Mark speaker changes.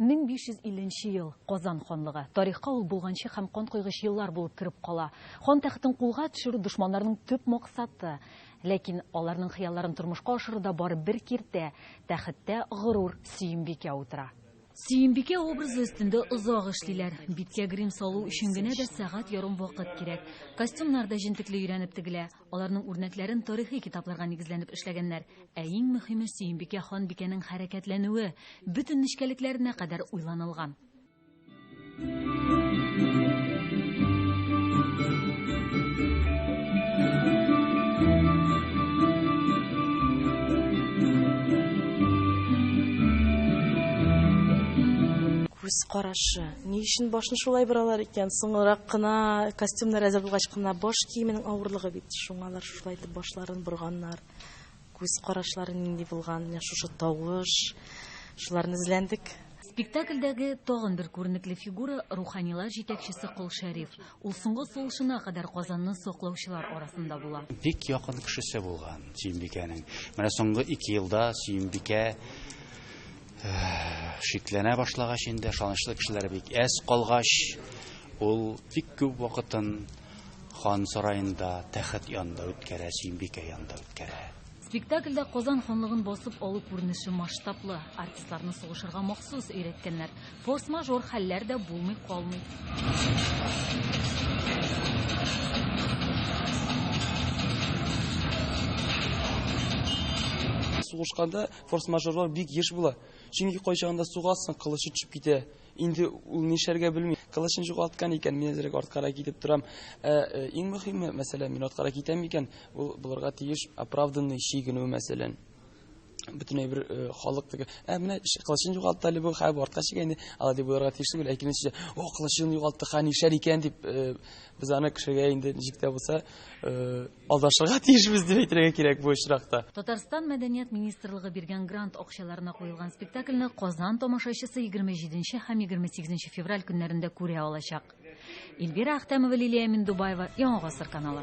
Speaker 1: 1550
Speaker 2: нче ел, Казан ханлыгы. Тарихка ул болганчы һәм кан койгыч еллар булып кереп кала. Хан тәхетен кулга төшерү дошманнарның төп максаты. Ләкин аларның хыялларын тормышка ашыруда бары бер киртә, тәхеттә горур Сөембикә утыра. Сөембикә образы өстендә озак эшлиләр. Биткә грим салу өчен генә дә сәгать ярым вакыт кирәк. Костюмнар да җентекле өйрәнеп тегелә. Аларның үрнәкләрен тарихи китапларга нигезләнеп эшләгәннәр. Ә иң мөһиме Сөембикә ханбикәнең хәрәкәтләнүе, бөтен нечкәлекләренә кадәр уйланылган.
Speaker 3: Күз карашы. Ни өчен башны шулай боралар икән? Соңрак кына костюмнар әзер булгач кына баш киеменең авырлыгы бит. Шуңа алар шулай итеп башларын борганнар. Күз карашлары нинди булган, менә шушы тавыш. Шуларны эзләндек. Спектакльдәге
Speaker 2: тагын бер күренекле фигура руханилар җитәкчесе Кол Шәриф. Ул соңгы сулышына кадәр Казанны саклаучылар арасында була. Бик якын кешесе
Speaker 4: булган Сөембикәнең. Менә соңгы ике елда Сөембикә Шикләнә башлагач инде, ышанычлы кешеләр бик әз калгач, ул бик күп вакытын хан сараенда, тәхет янында үткәрә, Сөембикә янында үткәрә. Спектакльдә
Speaker 2: Казан ханлыгын басып алу күренеше масштаблы. Артистларны сугышырга махсус өйрәткәннәр. Форс-мажор хәлләр дә булмый калмый.
Speaker 5: Сугышканда Форс-мажорлар бик еш була, чөнки кайчагында сугасың, кылычы төшеп китә. Инде ул нишләргә белми. Кылычын югалткан икән, мин әзрәк арткарак китеп торам. Ә э, иң мөһиме, мәсәлән, мин арткарак китәм икән, ул булырга тиеш оправданный чигенү, мәсәлән бөтенләй бер э, халык теге ә менә кылычын югалтты әле бу хә бу артка чигәнде алай дип уйларга тиеш түгел әкренчә о кылычын югалтты ха нишләр икән дип э, без аны кешегә инде ничек тә булса э, Алдашырга тиешбез дип әйтергә кирәк бу очракта. Татарстан мәдәният
Speaker 2: министрлыгы биргән грант акчаларына куелган спектакльне Казан тамашачысы 27 һәм 28 февраль көннәрендә күрә алачак. Эльвира Әхтәмова, Лилия Миндубаева, Яңа гасыр каналы.